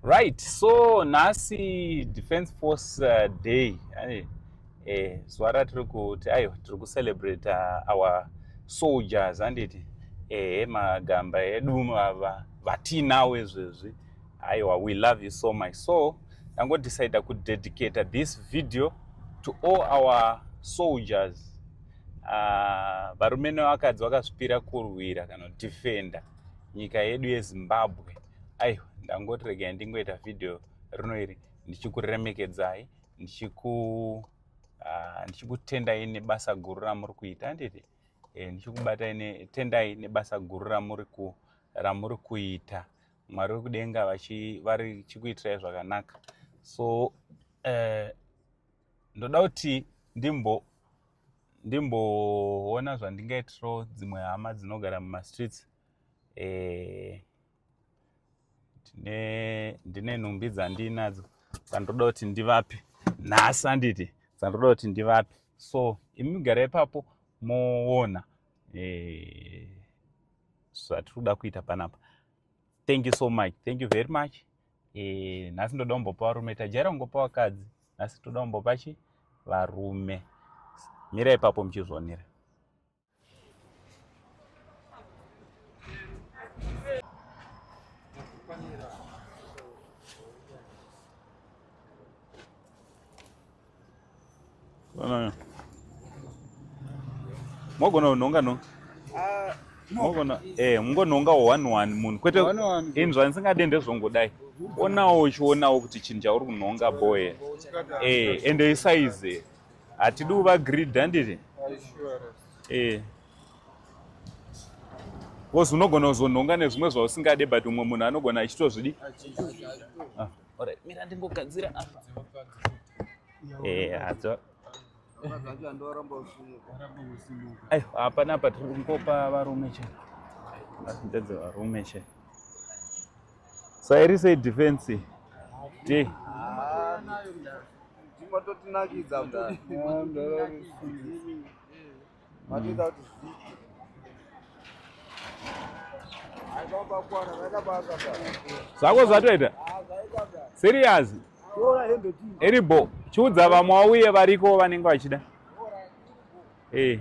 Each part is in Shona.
Right, so nhasi Defense Force uh, Day eh, eh, zuva ratiri kuti ayo tiri kucelebrate uh, our soldiers handiti ehe eh, magamba edu ava vatinawo izvezvi aiwa we love you so much so ndangodecida kudedicata this video to all our soldiers uh, varume nevakadzi vakazvipira kurwira kana kudefenda nyika yedu yezimbabwe aiwa ndangoti regai ndingoita vhidhiyo rino iri ndichikuremekedzai ndichiku ah, ndichikutendai nebasa guru ramuri kuita anditi eh, ndichikubatai netendai nebasa guru ramuri ku ramuri kuita mwari wekudenga vari chikuitirai zvakanaka so eh, ndoda kuti ndimbo ndimboona zvandingaitirawo dzimwe hama dzinogara mumastreets eh, ndine nhumbi dzandinadzo dzandoda kuti ndivape nhasi anditi dzandoda kuti ndivape so imi migara ipapo moona eh, zvatiri kuda kuita panapa thank you so much thank you very much Eh, nhasi ndoda kumbopa varume tajaira kungopa vakadzi nhasi toda kumbopa chi varume mira ipapo muchizvonera mogona kunhonga nhonga ah, mogona eh mungonhonga one one munhu kwete inzwa ndisingade ndezvongodai onawo uchionawo kuti chinhu chauri kunhonga boe eh ende isaize hatidi uva grid handiti eh bcause unogona kuzonhonga nezvimwe zvausingade but umwe munhu anogona achitozvidi ah. Ora, mira ndingogadzira apa. Eh, adzo. Ayo, apa napa tiri kungopa varume che. Ndedze varume che. So iri sei defense? Ti. Ndimo totinakidza mdara. vatoita kuti zviite zvako zvatoita serious eribo chiudza vamwe wauye variko vanenge vachida eh.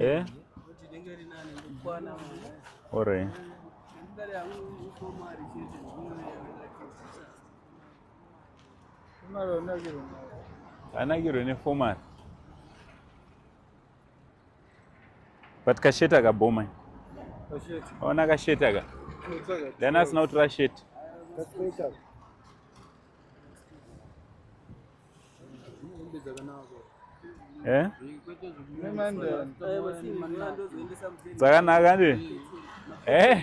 Eh? Ore. Anagirwe nefomari. But kasheti akabhoma. Ona kasheti aka. Dana asina kutora sheti. Eh? dzakanaka ndi eh?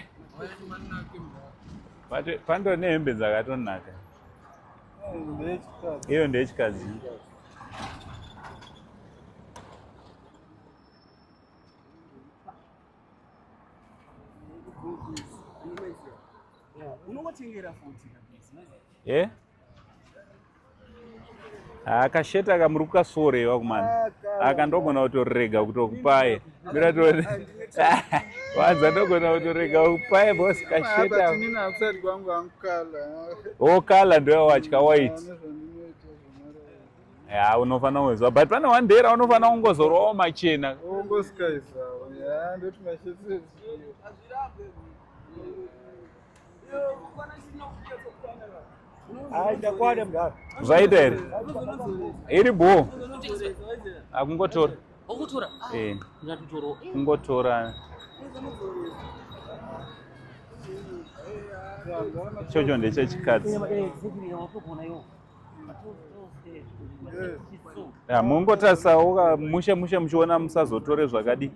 pando nehembe dzakatonaka iyo ndeyechikadzi unongotengera futi eh? akasheta kamuri kukasoorewa kumana aka ndogona kutorega kutokupaye mira tone wanza ndogona kutorega kupaye bos kasheta o kala ndoyawatya wait ya unofanira kungoziva but pane one day raunofanira kungozorowawo machena zvaita here iri bho akungotora kungotora chocho ndechechikadzi ya mongotarisawo mushe mushe muchiona musazotore zvakadii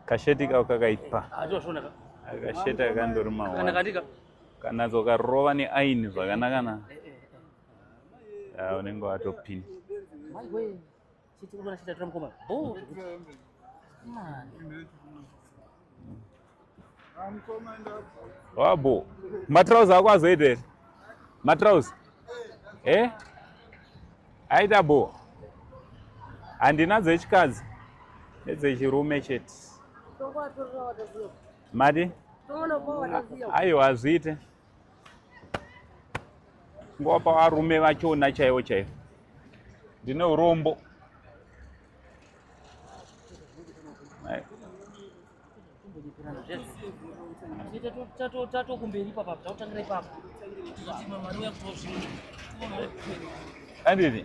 kasheti kako kakaipa kasheti akandori mawa kanatso karova neaini zvakanakana unenge watopinda Chiti unoona chita tora mukoma. Boo. Wabo. Matrouse ako azoita here? Matrouse. Eh? Aita bo. Handina dzechikadzi. Nedzechirume chete. Madi? Aiwa hazviite. Ngowa pavarume vachona chaivo chaivo. Ndine urombo. tatokumberi ipapo tatotangira ipapo andini